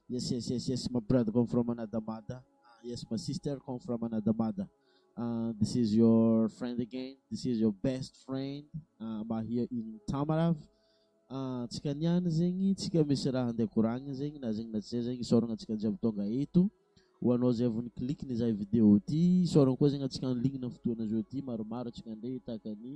Yes, yes, yes, yes. My brother come from another mother. Uh, yes, my sister come from another mother. Uh, this is your friend again. This is your best friend. Uh, I'm here in Tamarav. Uh, tsika niany zegny, tsika misy raha handeha koragny zegny, na zegny na tsy zegny, isaoragna antsika jiaby tonga eto. Ho anao zay vao nikliky ny zay vidéo ty, isaoragna koa zegny antsika anligne fotoana zao ty, maromaro antsika ndray tahaka ny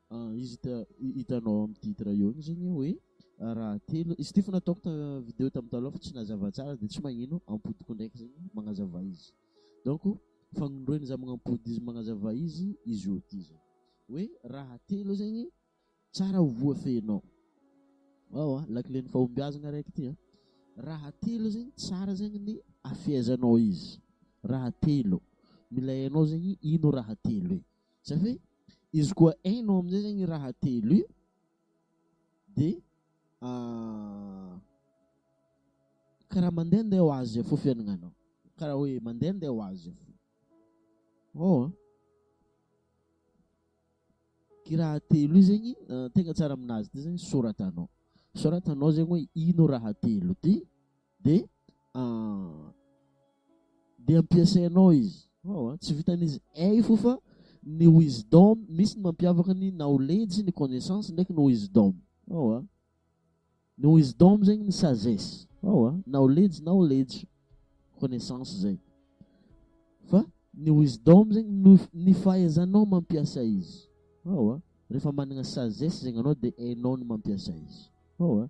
Izy hitanao amin'ny titre eo igny zegny hoe raha telo, izy ity efa nataoko ta vidéo tamin'ny taloha fa tsy nazava tsara de tsy magnino ampodiko ndraiky zegny magnazava izy donc fagnindroiny za magnampody izy magnazava izy izy io ty zany hoe raha telo zegny tsara ho voafehinao ao a lakilen'ny fahombiazana araiky ty a raha telo zegny tsara zegny ny afehezanao izy raha telo mila hainao zegny ino raha telo e Zay hoe izy koa hainao amin'izay zany raha telo io dia karaha mandeha ndeha ho azy fo fiainagnanao, karaha hoe mandeha ndeha ho azy fo. Oh, ky raha telo io zegny tegna tsara amin'azy ty zegny soratanao, soratanao zegny hoe ino raha telo ty. Dia ah, dia ampiasainao izy. Wow, ah, tsy vitan'izy ey fo fa ny wisdom misy ny mampiavaka ny knowledge ny connaissance ndraiky ny wisdom. Wow, ah. Ny wisdom zegny ny sagesse. Wow, ah. knowledge knowledge connaissance zay. Fa ny wisdom zegny ny fahaizanao mampiasa izy. Wow, ah. Rehefa managna sagesse zegny anao dia hainao ny mampiasa izy. Wow, ah.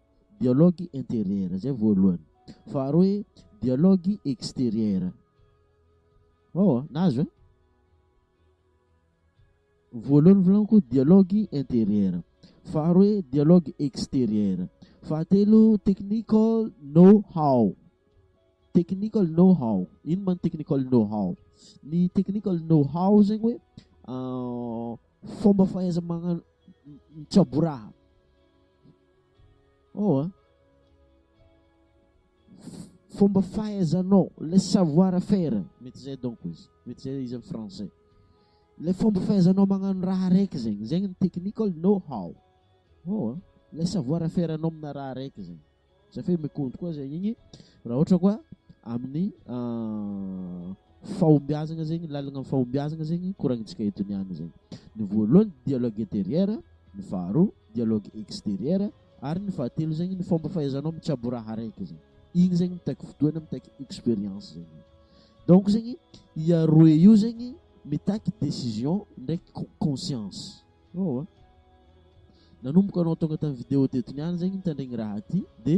Dialogue interieur, zay voalohany. Faharoa hoe dialogue exterieur. Wawa, nahazo eh? Voalohany volaniko dialogue interieur. Faharoa hoe dialogue exterieur. Fahatelo technical know how. Technical know how. Ino man technical know how? Ny technical know how zegny hoe euh, fomba fahaiza magnano mitsaboraha Oh ah. Fomba fahaizanao, le savoir faire, mety zay donc izy, mety zay izy français. Le fomba fahaizanao magnano raha araiky zegny, zegny ny technical know how. Oh ah. Le savoir faire anao amina raha araiky zegny. Zay fe mikontro koa zegny igny raha ohatra koa amin'ny euh, Fahombiazagna zegny, lalagna am fahombiazagna zegny koragnintsika eto niany zegny. Ny voalohany dialogue interieur, ny faharoa dialogue exterieur, ary ny fahatelo zegny ny fomba fahaizanao mitsabo raha araiky zegny. Igny zegny mitaky fotoagna, mitaky experience zegny. Donc zegny i aroe io zegny mitaky décision ndraiky co- conscience. Eoa. Nanomboka anao tonga tamin'ny vidéo teto niany zegny nitandregny raha ty de.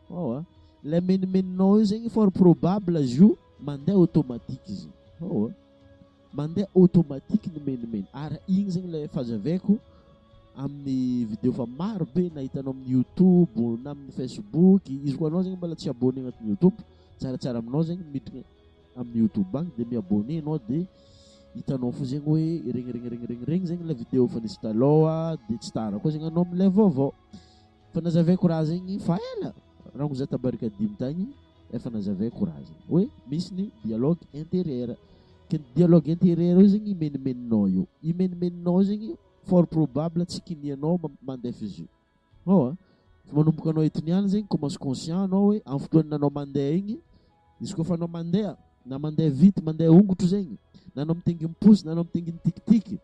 Hao a! Ilay menomenonao io zegny fort probable izy io mandeha automatique izy. Hao a! Mandeha automatique ny menomeno ary igny zegny ilay fahazaveako amin'ny video fa maro be na hitanao amin'ny youtube na amin'ny facebook, izy koa anao zegny mbola tsy abonné agnatin'ny youtube, tsaratsara aminao zegny miditra amin'ny youtube agny dia mi-abonné ianao dia hitanao fo zegny hoe regny regny regny regny regny zegny ilay video efa nisy taloha dia tsy tara koa zegny anao milay vaovao. Efa nazavaiko raha zegny fa ela raha no za tabarika dimy tagny efa nazavaiko raha zegny hoe misy ny dialogue intérieur ke ny dialogue intérieur io zegny imenimeninao io imenimeninao zegny fort probable tsy kinianao ma- mandefa izy io ao a fa manomboka anao eto niany zegny commence conscient anao hoe amin'ny fotoan'ny anao mandeha igny izy koa fa anao mandeha na mandeha vity mandeha ongotro zegny na anao mitengim-posy na anao mitengim-tikitiky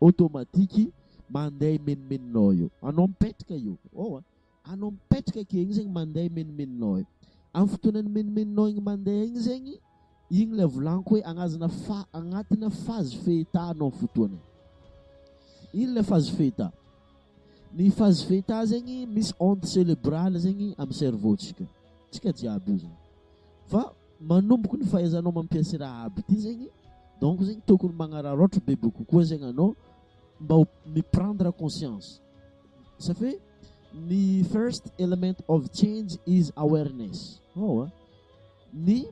Automatique mandeha imenomenonao eo. Anao mipetraka io ao a! Anao mipetraka akeo igny zegny mandeha imenomenonao eo. Amin'ny fotoanan'ny imenomenonao igny mandeha igny zegny, igny ilay volaniko hoe agnazana fa- agnatina phase feta anao amin'ny fotoana io. Ino ilay phase feta? Ny phase feta zegny misy onde cerebrale zegny amin'ny cerveau-ntsika, antsika jiaby io zany. Fa manomboka ny fahaizanao mampiasa ity Rahab ity zegny donc zegny tokony magnararaotra bebe kokoa zegny anao mba ho mi-prendre conscience ça fait ny first element of change is awareness oh, hein? ny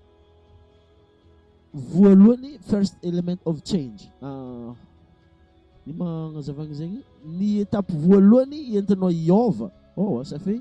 voalohany first element of change uh, ny magnazavagny zegny ny étape voalohany entinao hiôva oh, hein? ça fait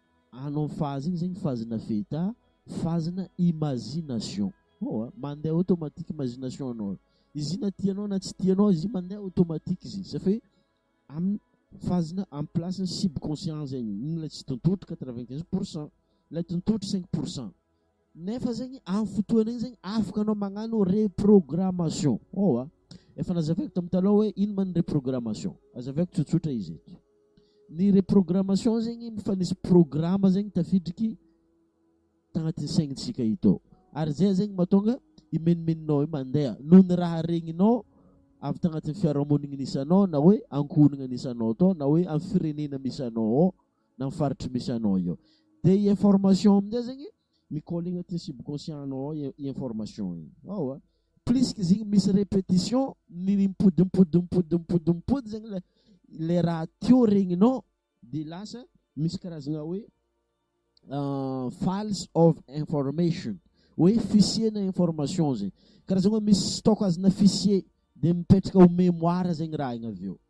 Ano ny fazy iny zegny fazy na feta fazy na imagination oh a mandeha automatique imagination anao izy io na tianao na tsy tianao izy io mandeha automatique izy io safi am fazy na am place ny subconscient zegny iny ilay tsy tontolo quatre vingt quinze pour cent ilay tontolo cinq pour cent Nefa zegny am fotoana igny zegny afaka anao magnano reprogrammation ô a! Efa nazavaiko tam taloha hoe ino ma ny reprogrammation, azavaiko tsotsotra izy eto. Ny reprogrammation zegny efa nisy programa zegny tafidriky tagnatin'ny saignitsika eto ary zay zegny mahatonga i menomenonao io mandeha noho ny raha regninao avy tagnatin'ny fiarahamonigny nisy anao na hoe ankohonagna nisy anao tao na hoe am firenena misy anao ao. na amin'ny faritry misy anao eo dia i information amin'izay zegny mi-coller agnatin'ny subconscient anao ao i information igny ao a plus que zegny misy répétition ny mipodimpodimpodimpodimpodimpody zegny le le raha teo regninao de lasa misy karazagna hoe ah, files of information hoe fichier-na information zegny karazagna hoe misy stock azona fichier de mipetraka ho mémoire zegny raha igny avy eo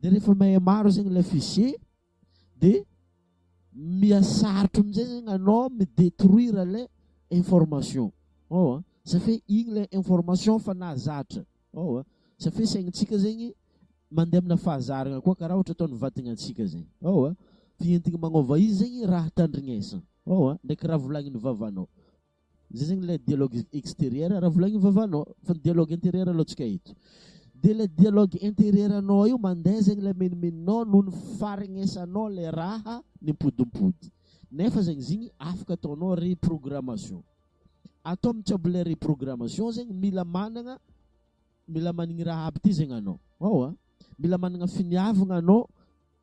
Dia rehefa mahay maro zegny ilay fichier dia mihasarotra amin'izay zegny anao mi-detruire ilay information. Ao a, safia igny ilay information efa nahazatra. Ao a, safia saignintsika zegny mandeha amina fahazarana koa karaha ohatra ataon'ny vatagnantsika zegny. Ao a, dia entigny magnova izy zegny raha tandrignesana. Ao a, ndraiky raha volagnin'ny vavanao. Zay zegny ilay dialogue exterieur raha volagniny vavanao fa ny dialogue interieur aloha tsy kay eto. Dia ilay dialogue interieur anao io mandeha zegny ilay menomenonao noho ny faharegnesanao ilay raha mipodimpody. Nefa zegny zigny afaka ataonao reprogrammation. Atao mitsabo ilay reprogrammation zegny mila managna mila manigny raha aby ty zegny anao. Ao a! Mila managna finiavagna anao.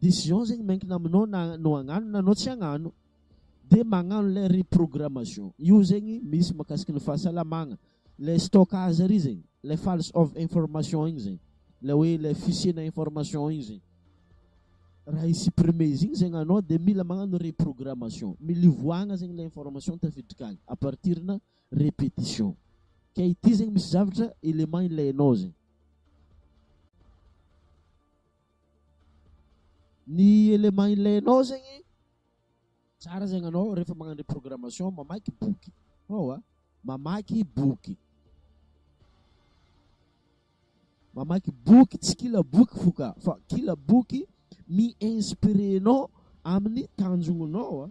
Decision zegny miankina aminao na anao hagnano na anao tsy hagnano. Dia magnano ilay reprogrammation. Io zegny misy mahakasiky ny fahasalamagna. Ilay stockage ary zegny, ilay files of information igny zegny, ilay hoe ilay fichier-na information igny zegny. Raha hi-supprimer izy igny zegny anao dia mila magnano reprogrammation. Milivoagna zegny ilay information tafiditra agny à partir-na répétition. Ka ity zegny misy zavatra élément ilainao zegny. Ny élément ilainao zegny, tsara zegny anao rehefa magnano reprogrammation mamaky boky, hawa, mamaky boky, mamaky boky tsy kila boky fo ka fa kila boky mi-inspirer anao amin'ny tanjonao.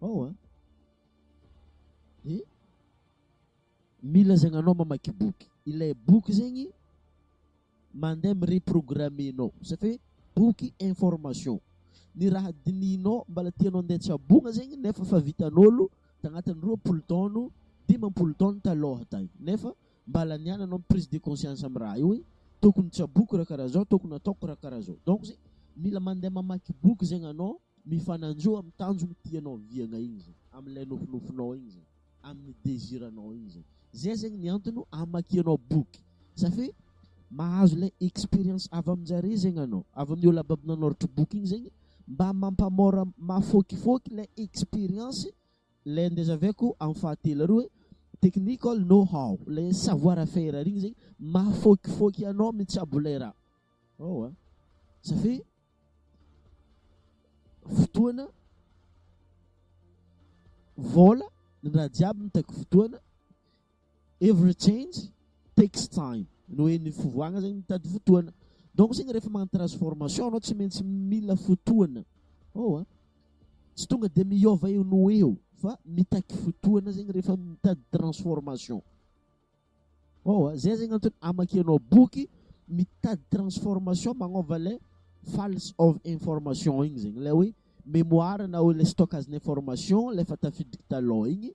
Ao an! Dia mila zegny anao mamaky boky, ilay boky zegny mandeha mi-reprogrammer anao, ça fait boky information, ny raha dinihinao mbala tianao andeha tsabogna zegny nefa efa vitan'ôlo tagnatin'ny roapolo taogno, dimampolo taogno talôha tagny nefa Mba laniana anao prise de conscience am raha io e! Tokony tsaboiko raha karaha zao, tokony ataoko raha karaha zao. Donc zay mila mandeha mamaky boky zegny anao, mifananjo am tanjogny tianao oviagna igny zay, am lay nofinofinao igny zay, aminy desiranao igny zay. Zay zegny ny antono amakianao boky safe mahazo lay experience avy aminjare zegny anao, avy aminy olo abab nanoratra boky igny zegny mba mampamora mafokifoky lay experience Ilay andeha zahaviko amin'ny fahatelo ary hoe technical know how, ilay savoir faire ary igny zegny mahafaokifaoky anao mitsabo ilay raha. Ewa ça fait fotoana, vola, ny raha jiaby mitaky fotoana Every change takes time, ny hoe ny fivoahana zegny mitady fotoana, donc zegny rehefa magnano transformation anao tsy maintsy mila fotoana oh a, tsy tonga de miôva eo no ho eo fa mitaky fotoana zegny rehefa mitady transformation oh a, zay zegny antony amakianao boky mitady transformation magnôva le false of information igny zegny le hoe mémoire na hoe le stockage-n'information le efa tafiditry talon igny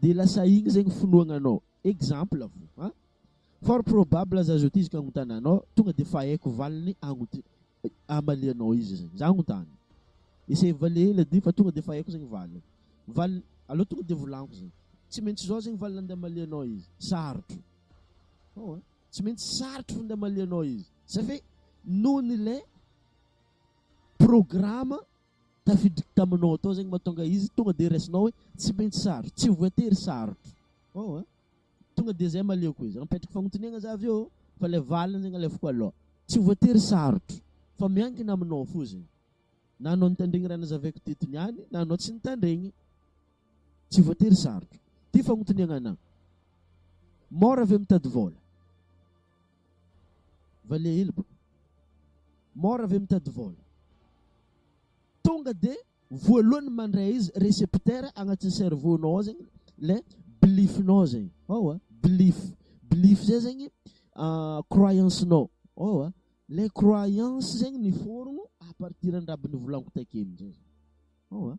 Dia lasa igny zegny finoagna anao. Exemple avo an! Fort probable aza azo atiziko agnontana anao tonga dia fa haiko valiny agnot- amalianao izy zegny. Za agnontany. Essaye mivalia hely ady fa tonga dia fa haiko zegny valiny. Valiny, aleo tonga dia volagniko zegny. Tsy maintsy zao zegny valiny andeha amalianao izy. Sarotro. Hao an! Tsy maintsy sarotro fô ndeha amalianao izy. Zafé noho ny lé programa. tafiditra taminao atao zegny mahatonga izy tonga de raisinao hoe tsy maintsy sarotra, tsy voatery sarotra oh an! tonga de zay maleoko izy, apetrako fagnotaniagna za avy eo fa le valiny zegny alefako alôha, tsy voatery sarotra fa miankina aminao fô zegny, na anao nitandregny raha nazavaiko teto niany na anao tsy nitandregny, tsy voatery sarotra, ty fagnotaniagna anah, môra ve mitady vôla? Vale hely bro. Mora ve mitady vol? Tonga de voalohany mandray izy recepteur agnatin'ny cerveau nao ao zegny le belief nao zegny ao a, belief belief zay zegny croyance nao ao a, le croyance zegny miforogno à partir andraby nivolaniko takeo amizay zany ao a.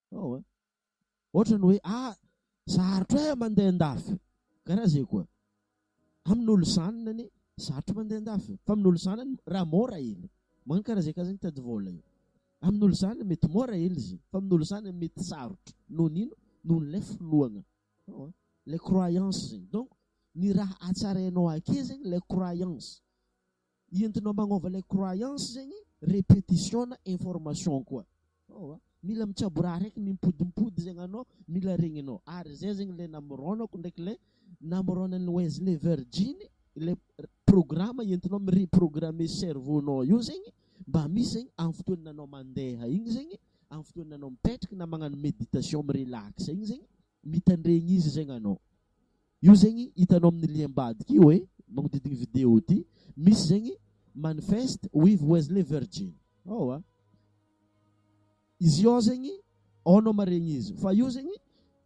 Ao a! Ohatrany hoe ah! Sarotra eh mandeha an-dafy! Karaha zay koa. Amin'olo zanany anie sarotra mandeha an-dafy fa amin'olo zanany raha mora ela. Magnano karaha zay ka zany mitady vôla io. Amin'olo zanany mety mora ela izy fa amin'olo zanany mety sarotra. Noho ny ino? Noho ilay finoagna. Ao a! Ilay croyance zegny. Donc ny raha hatsarainao ake zegny ilay croyance. Entinao magnova ilay croyance zegny repetition na information koa oh a! Mila mitsaboraha araiky mimpodimpody zegny anao, mila regninao ary zay zegny ilay namorônako ndraiky ilay namorônan'i Wesley Virgin ilay programa entinao mi-reprogrammer cerveau-nao io zegny mba misy zegny amin'ny fotoan'ny anao mandeha igny zegny, amin'ny fotoan'ny anao mipetraka na magnano méditation mi-relax igny zegny mitandregny izy zegny anao. Io zegny hitanao amin'ny lien ambadika io e, magnodidigny video ity, misy zegny manifest with Wesley Virgin ao a. Izy io ao zegny ao anao maregny izy fa io zegny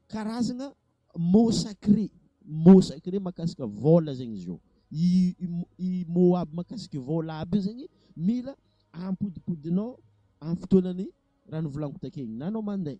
karazagna mot sacré, mot sacré makasika vôla zegny izy io. I mot aby makasika vôla aby io zegny mila ampodimpodinao amin'ny fotoanan'ny raha novolaniko takeo igny na anao mandeha.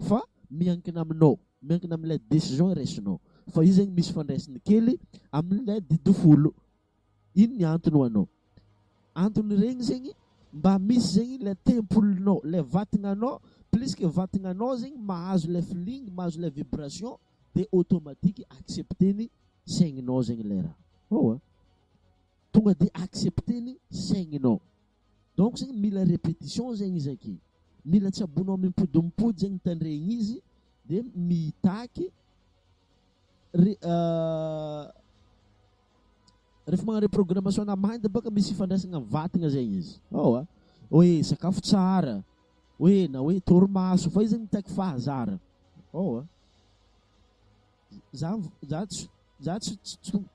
Fa miankina aminao, miankina amin'ilay décision raisinao. Fa io zegny misy fandraisiny kely amin'ilay didy folo. Ino ny antony ho anao? Anton'iregny zegny mba misy zegny ilay tempolinao, ilay vatagnanao, plus que vatagnanao zegny mahazo ilay feeling, mahazo ilay vibration dia automatique accepter-ny saigninao zegny ilay raha. Ewa. Tonga dia accepter-ny saigninao. Donc zegny mila repetition zegny izy ake, mila tsaboinao mimpody mimpody zegny tandregny izy de mitaky re- rehefa magnano reprogrammation ana mind bôka misy ifandraisagna am vatagna zegny izy aoa hoe sakafo tsara hoe na hoe torimaso fa izy zegny mitaky fahazarana aoa. Za za tsy za tsy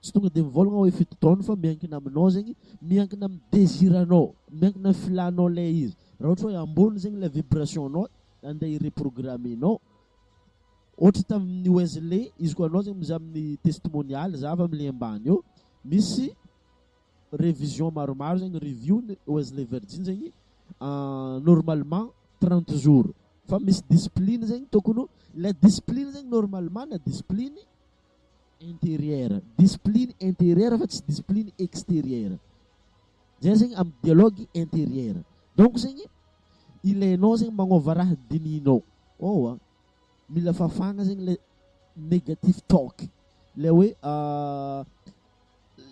tsy tonga dia mivolagna hoe fito taona fa miankina aminao zegny, miankina amin'ny désir-anao, miankina amin'ny filànao ilay izy. Raha ohatra hoe ambony zegny ilay vibration-nao andeha hi-reprogrammer-nao, ohatra tamin'ny Wesley, izy koa anao zegny mizaha amin'ny testimonial, za avy am'le ambany eo, misy révision maromaro zegny review ny Wesley Virgin zegny normalement trente jours fa misy discipline zegny tokony ho ilay discipline zegny normalement na discipline intérieur discipline intérieur fa tsy discipline extérieur zay zegny amy dialogue intérieur donc zegny ilainao zegny magnôva raha dinihinao ôwa mila fafagna zegny le negatif talk le hoe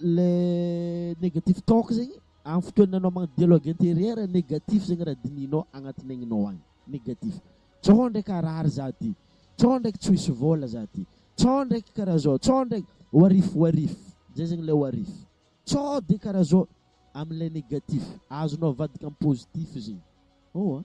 le negatif talk zegny amin'ny fotoana anao magnano dialogue intérieur negatif zegny raha dinihinao agnatin'ny aignao agny negatif tsao ndraiky harary za ty tsao ndraiky tsy ho hisy vôla za ty tsao ndraiky karaha zao tsao ndraiky ho arif ho arif zay zegny le ho arif tsao de karaha zao am'le negatif azonao avadika am' positif zegny oh a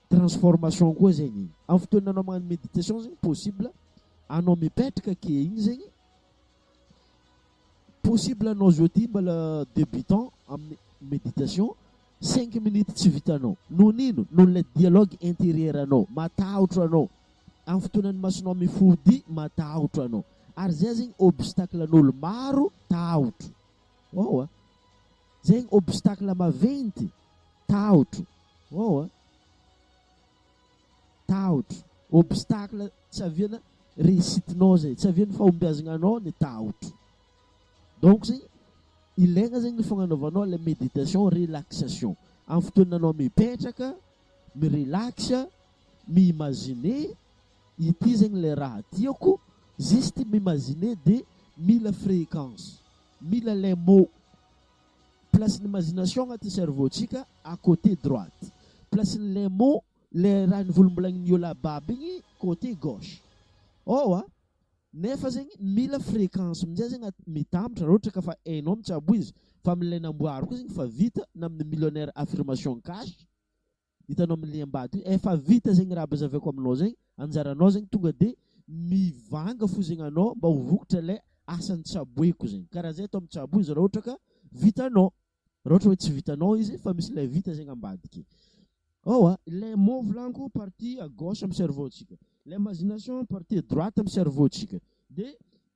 Transformation koa zegny am fotoana anao magnano meditation zegny possible anao mipetraka ake igny zegny possible anao zao ty mbala debutant aminy meditation cinq minutes tsy vitanao noho nino noho le dialogue interieur anao matahotro anao am fotoana ny masonao mifody matahotro anao ary zay zegny obstacle an'olo maro tahotro oa. Zegny obstacle maventy, tahotro, waouh a! tahotro, obstacle tsy aviana réussite-nao zay, tsy avian'ny fahombiazagnanao ny tahotro, donc zegny ilaigna zegny ny fagnanaovanao le méditation relaxation, amin'ny fotoana anao mipetraka mi-relax, mi-imaginer ity zegny le raha tiako, juste mi-imaginer de mila fréquence. Mila les mots. Place ny imagination agnaty cerveau tsika à côté droite. Place ny les mots le raha nivolombolaignin'i Yola Bab igny côté gauche. Ao a! Nefa zegny mila fréquence mintsy azy agnaty mitambatra raha ohatra ka fa hainao mitsabo izy fa amin'ilay namboariko izy igny fa vita na amin'ny millionnaire affirmation cash Hitanao amin'ny liam-bato io, efa vita zegny raha abazaviako aminao zegny, anjaranao zegny tonga de mivanga fo zegny anao mba ho vokatra le asan'ny tsaboiko zegny, karaha zay atao amin'ny tsabo izy raha ohatra ka vitanao, raha ohatra hoe tsy vitanao izy fa misy le vita zegny ambadiky. Ewa, le mot volaniko partie à gauche amin'ny cerveau-tsika, l'imagination partie droite amin'ny cerveau-tsika, de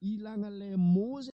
ilagna le mot zegny.